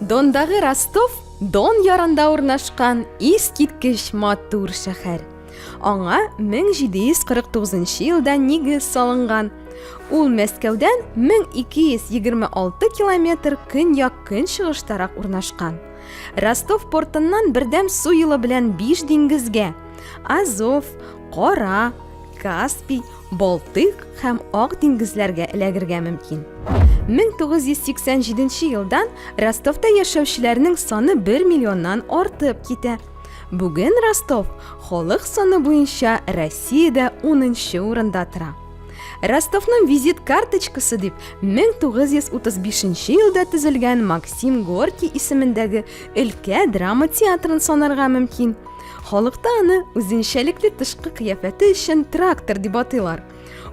Дондағы Ростов Дон ярында урнашкан искиткеч матур шәһәр. Аңа 1749 елда нигез салынган. Ул Мәскәүдән 1226 километр көньяк-көнчыгыштарак урнашкан. Ростов портыннан бердәм су юлы белән биш диңгезгә Азов, Кара, Каспий, Балтык һәм Ак диңгезләргә эләгергә мөмкин. 1987 елдан Ростовта яшәүчеләрнең саны 1 миллионнан артып китә. Бүген Ростов халык саны буенча Россиядә 10 урында тора. Ростовның визит карточкасы дип 1935 елда төзелгән Максим Горький исемендәге өлкә драма театрын санарга мөмкин. Халыкта аны үзенчәлекле тышкы кыяфәте өчен трактор дип атыйлар.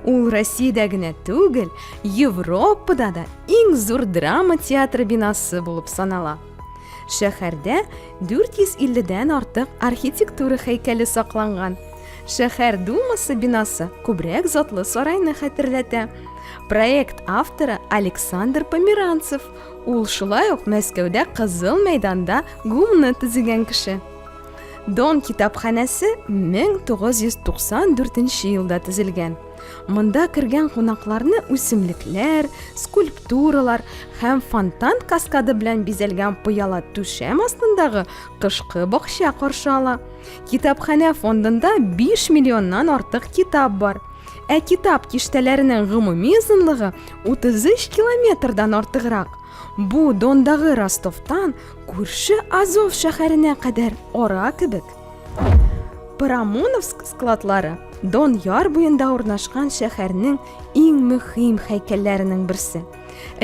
Ул Россиядә генә түгел, Европада да иң зур драма театры бинасы булып санала. Шәһәрдә 450 дән артык архитектура һәйкәле сакланган. Шәһәр думасы бинасы күбрәк затлы сарайны хәтерләтә. Проект авторы Александр Померанцев. Ул шулай ук Мәскәүдә Кызыл мәйданда гумны төзегән кеше. Дон китапханәсе 1994 елда төзелгән. Монда кергән кунакларны үсемлекләр, скульптуралар һәм фонтан каскады белән бизәлгән пыяла түшәм астындагы кышкы бакча каршы ала. Китапханә фондында 5 миллионнан артык китап бар. Ә китап киштәләренең гомуми озынлыгы 33 километрдан артыграк. Бу Дондагы Ростовтан күрше Азов шәһәренә кадәр ара кебек. Парамоновск складлары Дон яр буенда урнашкан шәһәрнең иң мөһим һәйкәлләренең берсе.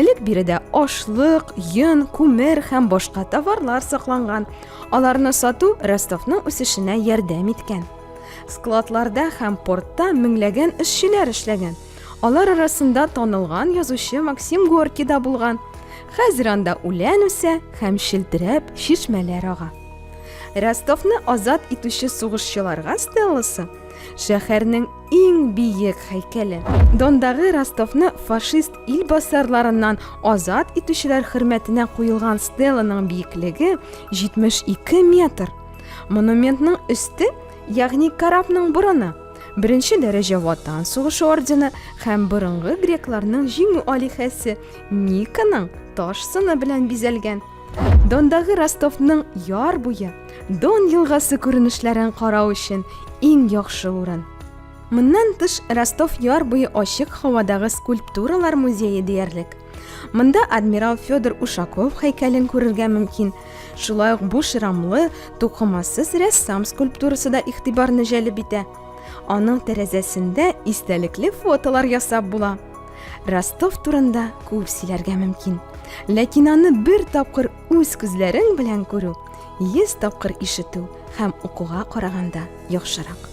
Элек биредә ашлык, йон, күмер һәм башка товарлар сакланган. Аларны сату Ростовның үсешенә ярдәм иткән. Складларда һәм портта меңләгән эшчеләр эшләгән. Алар арасында танылган язучы Максим Горки да булган. Хәзер анда үлән үсә һәм челтерәп чишмәләр ага. Ростовны азат итүче сугышчыларга стелласы, шәһәрнең иң биек һәйкәле. Дондагы Ростовны фашист ил басарларыннан азат итүчеләр хөрмәтенә куелган стелланың биеклеге 72 метр. Монументның өсте, ягъни корабның борыны, беренче дәрәҗә ватан сугышы ордены һәм борынгы грекларның җиңү алихәсе Никаның таш сыны белән бизәлгән. Дондагы Ростовның яр буе, Дон елгасы күренешләрен карау өчен иң яхшы урын. Моннан тыш Ростов яр буе ачык һавадагы скульптуралар музее диярлек. Монда адмирал Федор Ушаков һәйкәлен күрергә мөмкин. Шулай ук буш рамлы, тукымасыз рәссам скульптурасы да игътибарны җәлеп итә. Аның тәрәзәсендә истәлекле фотолар ясап була. Ростов турында күп сөйләргә мөмкин. Ләкин аны бер тапкыр үз күзләрең белән күрү, 100 тапкыр ишетү һәм укуга караганда яхшырак.